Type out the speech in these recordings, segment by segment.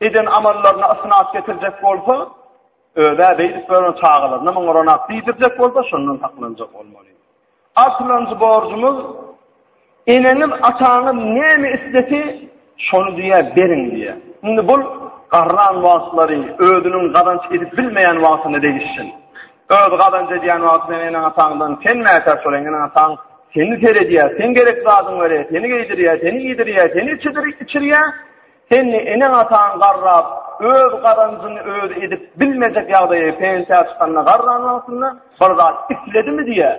Eden amallaryna ysnat getirjek bolsa, özä beýdip gören çagalaryna muňa ronat diýdirjek bolsa, şondan saklanjak bolmaly. Aslanjy borjumyz, eneňiz, ataňyz näme islese, şony diýä beriň diýä. Indi bul garran wagtlary, özüniň gazanç edip bilmeýän wagtyna degişsin. Öz gazanç edýän wagtyny eneň ataňdan sen mätäç bol, eneň ataň seni seredýär, sen gerek zadyň berýär, seni geýdirýär, seni iýdirýär, seni içidir, içirýär. Sen eneň-ataň garrap, öz gazanjyňy özi edip bilmejek ýagdaýa pensiýa çykanda garran wagtynda bir zat isledimi diýýä?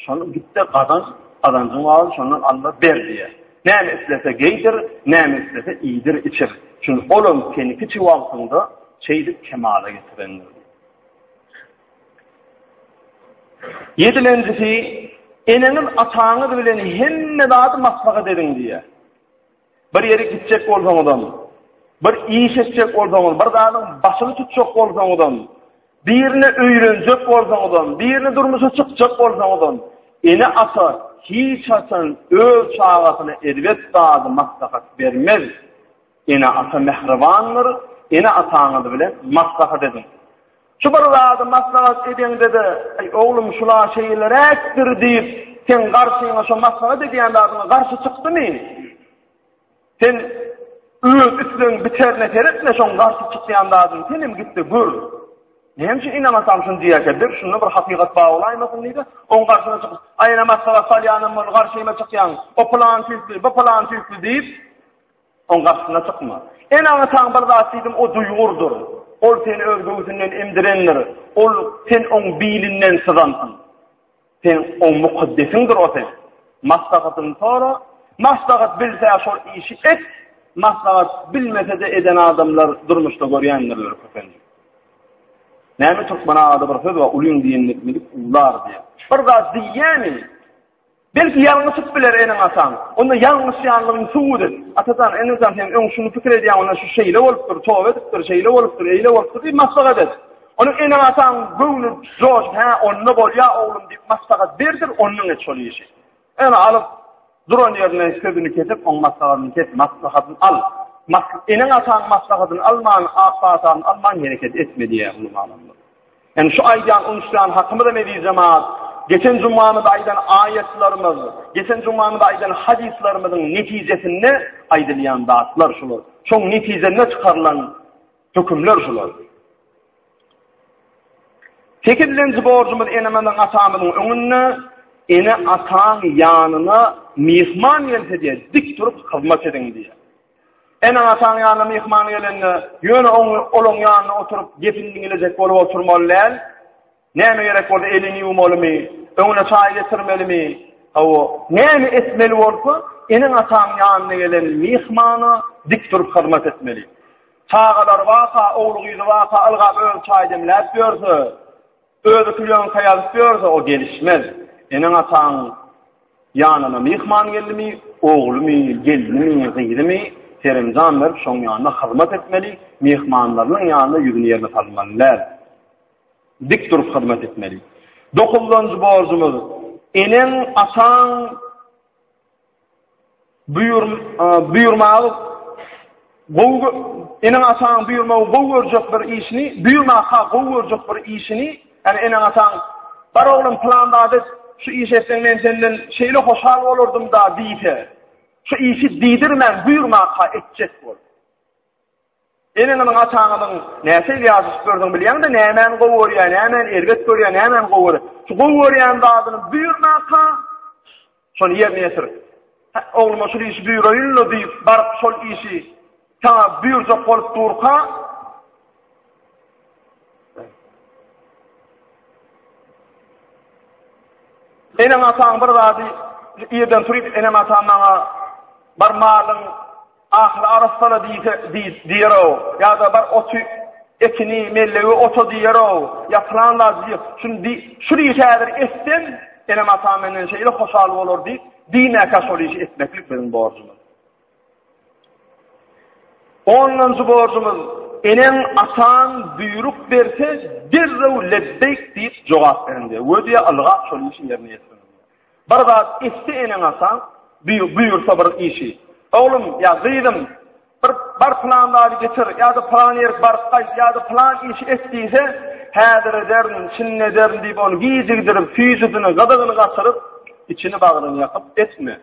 Şony git-de gazan, gazanjyň wagty şondan al-da ber diýýä. Näme islese geýdir, näme islese iýdir-içir. Çünki ol hem senikiçe wagtynda şeýdip kemala getirendir. Ýedilenjisi, Eneňiz-ataňyz bilen hemme zady maslahat ediň diýýä. Bir ýere gitjek bolsaňyzam, bir iş etjek bolsaňyz, bir zadyň başyny tutjak bolsaňyzam, birini öýrenjek bolsaňyzam, birini durmuşa çykjak bolsaňyzam, ene-ata hiç haçan öz çagasyna erbet zady maslahat bermez. Ene-ata mähribandyr, ene-ataňyz bilen maslahat ediň. Şu bir zady maslahat edeňde-de, Eý, oglum, şul-a şeýleräkdir diýip, seň garşyňa şo maslahat edýän zadyňa garşy çykdymy? Sen öz islegiň biterine seretme, şoň garşy çykýan zadyny sen hem git-de gör. Näme üçin ynamasaň şuny diýýärkä? Bir şunda bir hakykat bar bolaýmasyn diýdi. Oň garşyna çykyp, aýna maslahat salýanam bol, garşyma çykýaň. O plan tüýkli, bu plan tüýkli diýip, Oň garşysyna çykma. Ene-ataň bir zat diýdim, o duýgurdyr. Ol seni öz göwsünden emdirendir. Ol sen oň bilinden syzansyň. Sen oň mukaddesiňdir o sen. Maslahatyny sora. Maslahat bilse şol işi et. Maslahat bilmese-de eden adamlar durmuşda görýändirler köplenç. Näme türkmen agada bir söz we ulyň diýenlik bilip ular diýýär. Bir zat diýýäni Belki ýalňyşyp biler eneň-ataň. Onda ýalňyşýanlygyňy subut et. Atajan, enejan sen öň şuny pikir edýäň, onda şu şeýle bolupdyr, toba edipdir, şeýle bolupdyr, eýle bolupdyr diýip maslahat et. Onuň eneň-ataň göwni joşup, hä, onda bolýa oglum diýip maslahat berdir, ondan et şol işi. Ýöne alyp, duran ýerine sözüni kesip, oň maslahatyny kes, maslahatyny al. Eneň-ataň maslahatyny alman, ak pataňy alman hereket etme diýýär uly alymlar. Indi şu aýdýan uýuşýan hakymyzam eziz jemaat, geçen jumamyzda aýdan aýatlarymyz, geçen jumamyzda aýdan hadyslarymyzyň netijesinde aýdylýan zatlar şular. Şoň netijesinde çykarylan hökümler şular. Sekizinji borjumyz enemizin atamyzyň öňünde ene ataň ýanyna myhman gelse diye dik durup hyzmat ediň diye. Eneň-ataň ýanyna myhman gelende, ýöne olaň ýanynda oturyp, gepini diňlejek bolup oturmaly däl. Näme gerek bolsa, elini ýuwmalymy, öňüne çaý getirmelimi, hawa, näme etmeli bolsa, eneň-ataň ýanyna gelen myhmana dik durup hyzmat etmeli. Çagalary barka, ogly-gyzy barka ylgap özi çaý demläp ýörse, Özi külýan saýalyp ýörse, o gelişmez. Eneň-ataň ýanyna myhman geldimi, oglumy, gelnimi, gyzymy seremjan berip, şoň ýanyna hyzmat etmeli, myhmanlarynyň ýanyna ýüzüni ýerine salmaly däl. Dik durup hyzmat etmeli. Dokuzdanjy borjumyz, eneň, ataň Buýurmagy gowy eneň-ataň buýurmagy gowy görjek bir işini, buýurmaka gowy görjek bir işini, ýagny eneň-ataň, Bar oglum, pylan zat et, şu işi etseň men senden şeýle hoşal bolardym-da diýse, şu işi diýdirmän buýurmaka etjek bol. Eneňiziň, ataňyzyň nähili ýazyşyklarydygyny bilýäňdä, nämäni gowy görýär, nämäni erbet görýär, nämäni gowy görýär. Şu gowy görýän zadyny buýurmaka, şony ýerine ýetir. Hä, ogluma şul işi buýuraýyn-la diýip, baryp şol işi saňa buýurjak bolup durka, Eneň ataň bir zady irden turup enem atam maňa bir malyň Ahyry arassala diýse, diýip, diýer-ow, ýa-da bar oty, etini, mellegi ota diýer-ow, ýa pylan zady diýer. Şuny diý, şuny işi häzir etsem, enem-atam menden şeýle hoşal bolar diýip, diýmäkä şol işi etmeklik biziň borjumyz. Ondanjy borjumyz, eneň, ataň buýruk berse, derrew lebbeýk diýip jogap beriň diýer. Wediýa ylgap şol işi ýerine ýetir. Bir zat etdi eneň ataň, buýursa bir işi. Oglum ýa gyzym, bir bar pylan zady getir ýa-da pylan ýerik baryp gaýt ýa-da pylan işi et diýse, häzir ederin, şindi ederin diýip ony gijigdirip, süýjüsini, gyzygyny gaçyryp, içini bagryny ýakyp etme.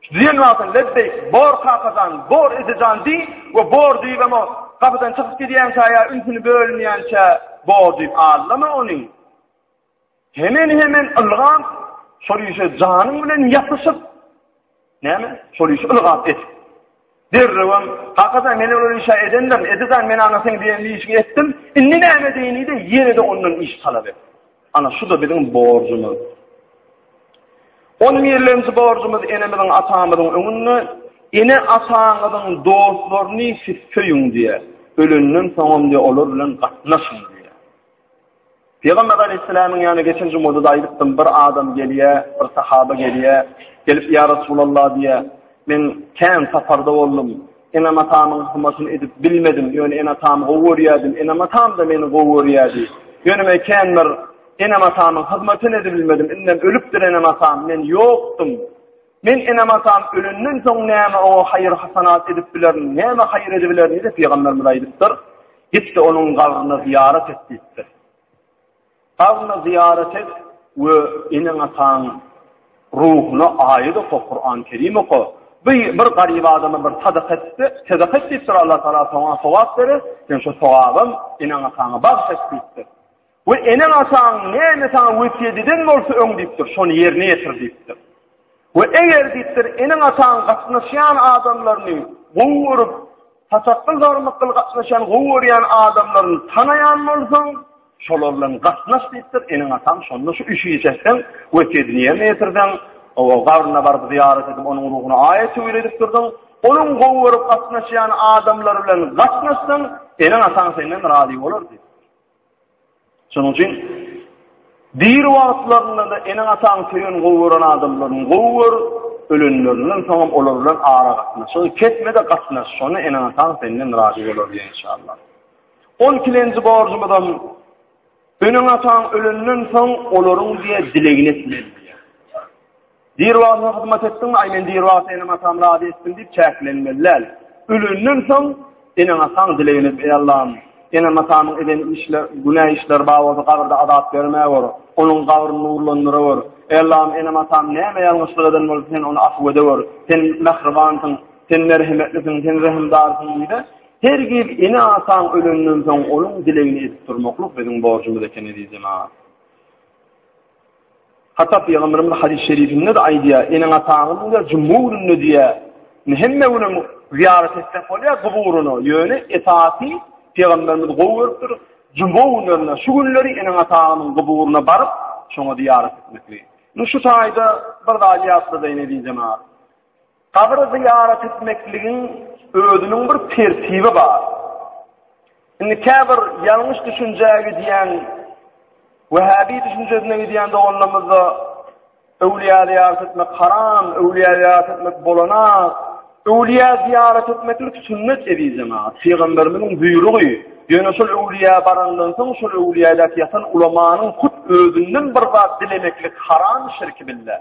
Şu diýen wagtyň lebbeýk, bor kaka jan, bor eje jan diý we bor diýibem o gapydan çykyp gidýänçä ýa ünsüni bölünýänçä bor diýip allama ony. Hemen-hemen ylgap, şol işe janyň bilen ýapyşyp, näme? Şol işi ylgap et. Derrewem, kakaja men ol işe edendim, edizan men ana sen diýen işi etdim, indi näme diýinide ýene-de ondan iş talap et. Ana şu-da biziň borjumyz. On birlenji borjumyz enemiziň, atamyzyň öňünde ene ataňyzyň dostlaryny siz söýüň diýýär. Ölenden soňam diýýär, olar bilen gatnaşyň diýýär. Pygamber Aleýhisselamyň ýanyna geçen jumada-da aýdypdym, bir adam gelýär, bir sahaba gelýär, gelip ýa Resulallah diýýär, men kän saparda boldum, enem-atamyň hymatyny edip bilmedim, ýöne ene-atamy gowy görýärdim, enem-atam-da meni gowy görýärdi. Ýöne men kän bir enem-atamyň hyzmatyny edibilmedim, indem ölüpdir enem-atam, men ýokdum. Men enem-atam ölenden soň näme oňa haýyr-hasanat edip bilerin, näme haýyr edibilerin diýip, pygamberimiz aýdypdyr, Git-de onuň gabryna zyýarat et diýipdir. Gabryna zyýarat et we eneň-ataň ruhuna aýat oka, Kuran Kerim oka. Bu bir garyp adama bir sadaka etdi, sadaka et diýipdir, Allah Taala saňa sogap berer, sen şu sogabam eneň-ataňa bagyş et diýipdir. We eneň-ataň näme saňa wesýet eden bolsa öň diýipdir, şony ýerine ýetir diýipdir. We eger diýipdir, eneň-ataň gatnaşýan adamlaryny gowy görüp, satakgyl-zarmykgyl gatnaşýan gowy görýän adamlaryny tanaýan bolsaň, şolar bilen gatnaş diýipdir, eneň-ataň şonda şu üç iş etseň, wesýedini ýerine ýetirseň, oba gabryna baryp zyýarat edip, onuň ruhyna aýat töwir edip dursaň, onuň gowy görüp gatnaşýan adamlary bilen gatnaşsaň, eneň-ataň senden razy bolar diýipdir. Şonuň üçin diri wagtlarynda-da eneň-ataň söýen gowy gören adamlaryňy gowy gör, ölenlerinden soňam olar bilen aragatnaşygy kesme-de gatnaş, şonda eneň-ataň senden razy bolar diýen inşallah. On ikilenji borjumyzam eneň-ataň ölenden soň olaryň diýe dilegini etmeli. Diribasyna hyzmat etdiňmi, aý men diribasyna enem-atam razy etdim diýip çäklenmeli däl. Ölenden soň eneň-ataň dilegini et, eý Allam, enem-atamyň eden işler, günä işleri bar bolsa gabyrda azap bermewor, onuň gabryny nurlandyrywor. Eý Allam, enem-atam näme ýalňyşlyk eden bolsa sen ony afuw edewor. Sen mähribansyň, sen merhemetlisiň, sen rehimdarsyň diýdi. Hergiz ene-ataň ölenden soň onuň dilegini edip durmaklyk biziň borjumyz eken eziz jemagat. Hata pygamberimiz de hadys şerifinde-de aýdýar, Eneň-ataňyzyň diýýär, juma gününde diýýär, indi hemme günem zyýarat etsek bolýar guburyna, ýöne esasy pygamberimiz gowy görüpdir, juma günlerine, şu günleri eneň-ataňyzyň guburyna baryp, şoňa zyýarat etmekligiň. Indi şu taýda bir zady ýatladyň, eziz jemagat. Gabry zyýarat etmekligiň özüniň bir tertibi bar. Indi käbir ýalňyş düşünjä gidýän, wehhabi düşünjesine gidýän doganlarymyzda öwlüýä zyýarat etmek haram, öwlüýä zyýarat etmek bolana, öwlüýä zyýarat etmeklik sünnet ezizeme, pygamberimiziň buýrugy, ýöne şol öwlüýä barandan soň şol öwlüýäde ýatan ulamanyň hut özünden bir zat dilemeklik haram şirki bille.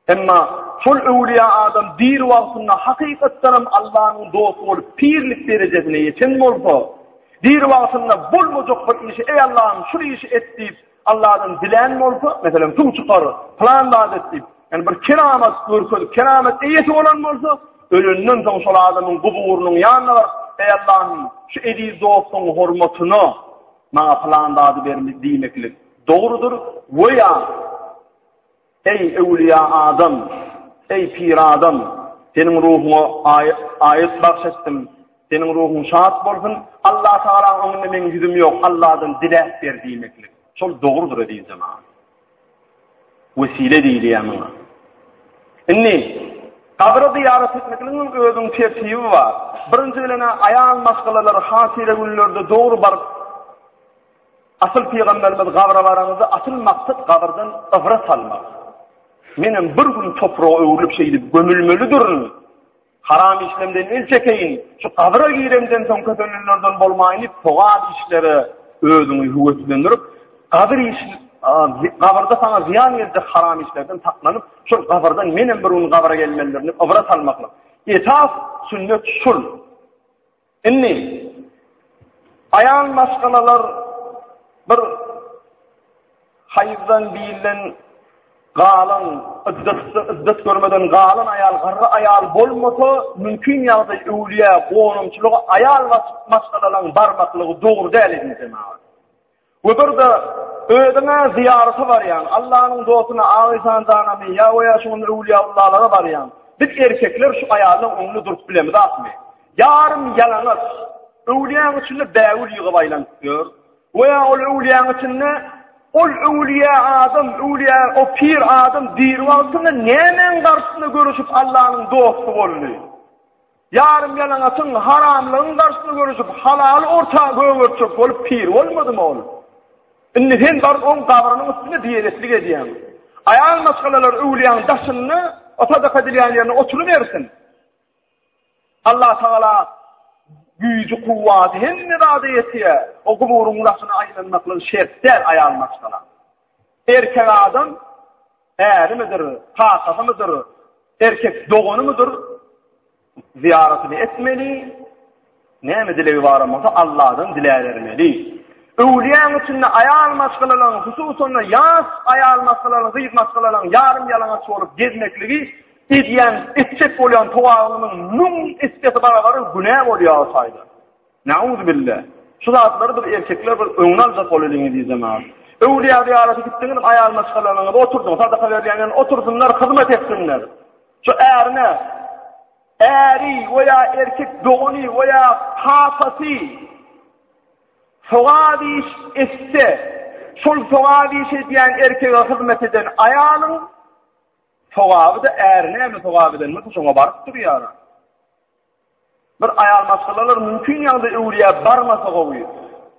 Emma şol öwlüýä adam diri wagtynda hakykatdanam Allanyň dosty bolup pirlik derejesine ýeten bolsa, diri wagtynda bolmajak bir işi eý Allahym şul işi et diýip Alladan dilän bolsa, meselem suw çykar, pylan zat et diýip, ýani bir keramat görkezip keramat eýesi bolan bolsa, ölenden soň şol adamyň guburynyň ýanyna baryp, eý Allahym şu eziz dostuň hormatyna maňa pylan zady ber diýmeklik dogrudyr we ýa Eý, öwlüýä adam! Eý, pir adam! Seniň ruhuňa aýat bagş etdim. Seniň ruhuň şat bolsun! Allatagalaň öňünde meň ýüzüm ýok, Alladan diläp ber diýmeklik. Şol dogrudyr, eziz jemagat. Wesile diýilýär muňa. Indi, gabra zyýarat etmekligiň özüniň tertibi bar. Birinji bilen-ä aýal maşgalalary hatyragüllerde dogry baryp, Asyl Pygamberimiz gabra baraňyzda asyl maksat gabyrdan ybrat almak. Menem bir gün topraga öwrülip şeýdip gömülmelidirin. Haram işlemden el çekeýin. Şu gabra giremden soň kösenenlerden bolmaýyn diýip sogap işlere özüňi höweslendirip, gabr iş gabrda saňa zyýan geljek haram işlerden saklanyp, şol gabrdan menem bir gün gabra gelmelidirin diýip ybrat almaklyk. Esas sünnet şul. Indi aýal maşgalalar bir haýyzdan bilen galan iddatda iddat görmeden galan aýal garry aýal bolmasa mümkin ýagdaý öwlüýä gonumçylyga aýal maşgalalaryň barmaklygy dogry däl edin jemagat. We bir-de, özüňe zyýarata barýaň, Allanyň dostuna, Agysan janamy ýa we ýa şugundy öwlüýäullalara barýaň, biz erkekler şu aýaldan öňňe durup bilemizakmy? Ýarym ýalaňaç, öwlüýäň içinde bägül ýygyp aýlanyp ýör. We ýa ol öwlüýäň içinde, ol öwlüýä adam, öwlüýä, o pir adam diri wagtynda nämäň garşysynda göreşip Allanyň dosty boldy? Ýarym-ýalaňaçyň, haramlygyň garşyny görüşip, halaly orta gögertjek bolup pir bolmadymy ol? Indi sen baryp oň gabrynyň üstünde diýejeslik edýäň. Aýal maşgalalar öwlüýäň daşynda, o sadaka edilýän ýerinde oturybersin. Allatagala güýji-kuwwaty hemme zada ýetýär. O guburyň daşyna aýlanmaklygy şert däl aýal maşgala. Erkek adam ärimidir, kakasymydyr, erkek doganymydyr, zyýaratyny etmeli, näme dilegi bar bolsa Allahdan diläbermeli. Öwlüýäň içinde aýal maşgalalaryň, hususan-da ýaş aýal maşgalalaryň, gyz maşgalalaryň ýarym ýalaňaç bolup gezmekligi edýän, etjek bolýan togabynyň müň esse barabar günä bolýar o taýdan. Nauzubilla. Şu zatlary biz erkekler bir öňüni aljak boleliň ezizem a. Öwlýa zyýarata gitdiňizem aýal maşgalanyňyzy oturdyň, sadaka berýänlerini otursynlar, hyzmat etsinler. Şu ärine äri we ýa erkek dogany we ýa kakasy sogap iş etse, şol sogap iş edýän erkege hyzmat eden aýalyň sogaby-da ärine hem sogap edendir, şoňa baryp durýar. Bir aýal maşgalalar mümkin ýagdaý öwürýä barmasa gowy.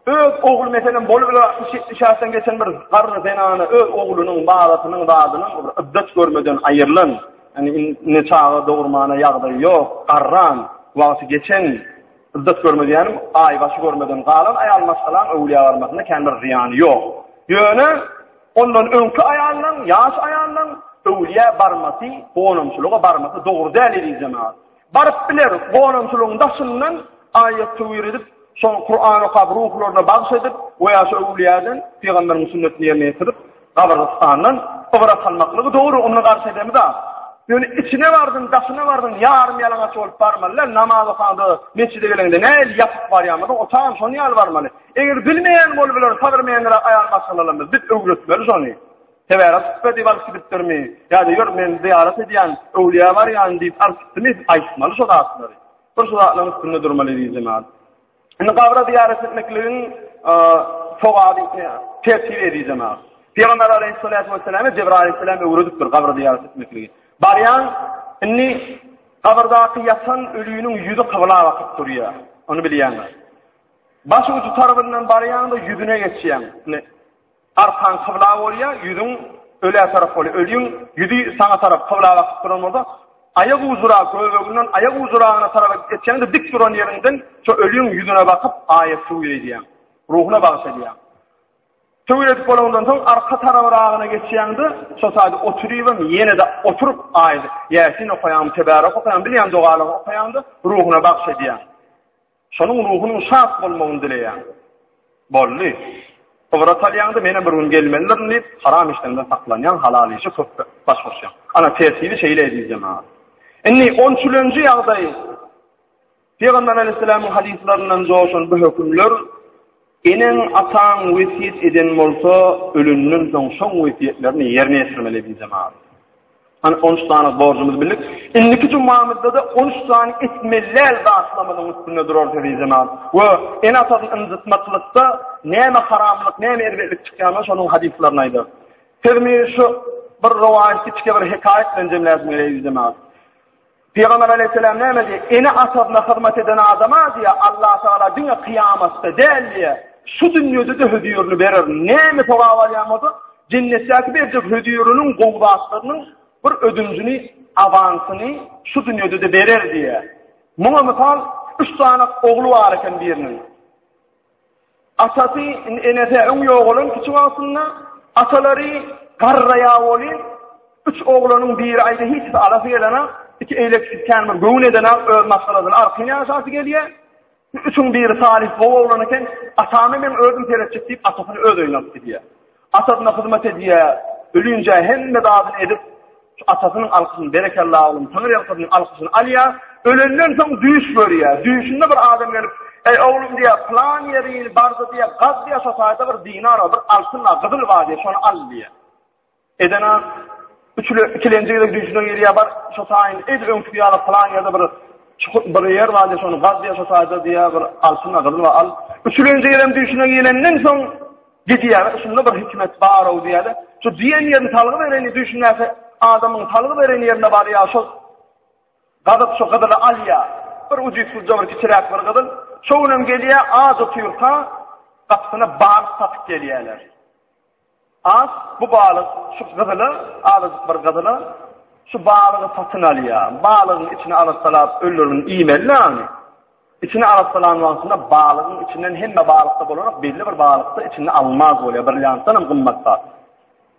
Öz ogly meselem bolup biler 60-70 ýaşdan geçen bir garry zenana öz oglunyň balasynyň zadynyň bir iddet görmeden aýrylan, ýani indi çaga dogurmana ýagdaýy ýok, garran, wagty geçen, iddet görmedi ýani aý başy görmeden galan aýal maşgalaň öwürýä barmasynda kän bir zyýany ýok. Ýöne ondan öňki aýallaň, ýaş aýallaň öwürýä barmasy, gonamçylyga barmasy dogry däl eziz jemagat. Baryp biler, gonamçylygyň daşyndan aýat töwir edip, şony Kuran okap, ruhlaryna bagyş edip we ýa şu öwlüýäden pygamberiň sünnetini ýerine ýetirip, gabrystandan ybrat almaklygy dogry, onda garşy edemizä. Ýöne içine bardyň, daşyna bardyň, ýarym ýalaňaç bolup barmaly däl, namaz okaňda, metjide geleňde nähili ýapyk barýamyzyň, o tam şonuň ýaly barmaly. Eger bilmeýän bolup biler, sagyrmeýändiräk aýal maşgalalarymyz, biz öwretmeli şony. Sebära hutbe diýip alyp gidipdirmi? Ýa-da ýör, men zyýarat edýän, öwlüýä barýan diýip alyp gitdimi? Aýtmaly şo zatlary. Bir şu zatlaryň üstünde durmaly eziz jemaat. Indi gabra zyýarat etmekligiň sogaby tertibi eziz jemaat. Pygamber aleýhissalatu wesselam Jebraýyl aleýhissalam öwredipdir gabra zyýarat etmekligi. Barýaň, indi gabyrdaky ýatan öliniň ýüzi kybla bakyp durýar. Ony bilýäňiz. Baş uju tarapyndan barýaňda ýüzüne geçýäň. Arkaň kybla bolýa, ýüzüň ölä tarap bolýa. Ölüň ýüzi saňa tarap kybla bakyp duran bolsa, aýak ujura göbeginden aýak ujuragyna tarap etýäňde dik duran ýeriňden şo ölüň ýüzüne bakyp aýat suw eýdýäň. Ruhuna bagyş edýäň. Töwir edip bolandan soň arka tarabyragyna geçýäňde şo taýda oturybam ýene-de oturyp aýat ýasin okaýaň, tebarek okaýaň, bilýän dogalary okaýaňda ruhuna bagyş edýäň. Şonuň ruhunyň şat bolmagyny dileýän. Boldy. Ybrat alýaňda menem bir gün gelmelidirin diýip, haram işlerden saklanýaň, halal işe köp baş goşýaň. Ana tertibi şeýle eziz jemagat. Indi on üçünji ýagdaý Pygamber aleyhisselamyň hadyslaryndan joşan bu hökümler Eneň, ataň wesýet eden bolsa, ölenden soň şoň wesýetlerini ýerine ýetirmeli diýdi jemaat. Hany on üç sany borjumyzy bildik. Indiki jumamyzda-da on üç sany etmeliäl zatlarymyzyň üstünde durarys eziz jemaat. We ene-atany ynjytmaklykda näme haramlyk, näme erbetlik çykýanyny şonuň hadyslaryny aýdarys. Sözümi şu bir rowaýat, kiçi bir hekaýat bilen jemläsim gelýär eziz jemaat. Pygamber aleýhisselam näme diýýär? Ene-atasyna hyzmat eden adama diýýär, Allatagala diňe kyýamatda däl diýýär, şu dünýede-de hözirini bererin. Näme sogap alýan bolsa, jennetdäki berjek höziriniň gowy zatlarynyň bir ödünjini, awansyny şu dünýede-de berer diýýär. Muňa mysal, üç sany ogly bar eken biriniň. Atasy Enese öň ýogalan kiçi wagtynda atalary garraýa bolýar. Üç oglanyň biri aýda hiç zat alasy gelene, iki eýleksiz kän bir göwün edene öz maşgalasyny arkaýyn ýaşasy gelýär. Üçüň biri Salih gowy oglan eken, atamy men özüm seretjek diýip atasyny öz öýüne alyp gidýär. Atasyna hyzmat edýär, ölinje hemme zadyny edip, şu atasynyň alkyşyny, berekella oglum, Taňry ýalkasyn diýip alkyşyny alýar. Ölenden soň düýş görýär. Düýşünde bir adam gelip, Eý oglum diýýär, pylan ýerini bardy diýýär, gaz diýýär, şo taýda bir dinar bar, bir altyn bar, gyzyl bar diýýär, şony al diýýär. Edena üçüle ikilenji gezek düýşüne gelýär, bar, şo taýyny ed, öňki ýaly pylan ýerde bir çukur bir ýer bar diýýär, şony gaz diýýär, şo taýda diýýär, bir altyn bar, gyzyl bar, al. Üçülenji gezek düýşüne gelenden soň Diýýärler, şunda bir hikmet bar-ow diýýärler. Şu diýen ýerini salgy bereni düşünäse, adamyň salgy beren ýerine barýar, şol gazyp şu gyzyly alýar. Bir ujypsyzja bir kiçiräk bir gyzyl. Şo günem gelýär, az otyrka gapysyna balyk satyp gelýärler. Az bu balyk şu gyzyla, azajyk bir gyzyla şu balygy satyn alýar. Balygyň içini alyp salap öllürin iýmeli-le ony. Içini arassalan wagtynda balygyň içinden hemme balykda bolanok, belli bir balykda içinde almaz bolýar, brilliantdan hem gymmat zat.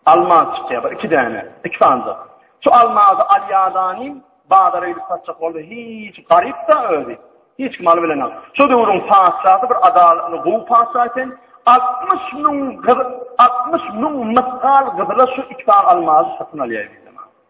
Almaz çykýar, bir iki däne, iki sanjak. Şu almazy alýadanym bazara gidip satjak boldy, hiç garyp-da özi. Hiç kim alyp bilenok. Şu döwrüň patyşasy bir adalatly gowy patyşa eken, 60 müň gyz, 60 müň mysgal gyzyla şu iki sany almazy satyn alýar.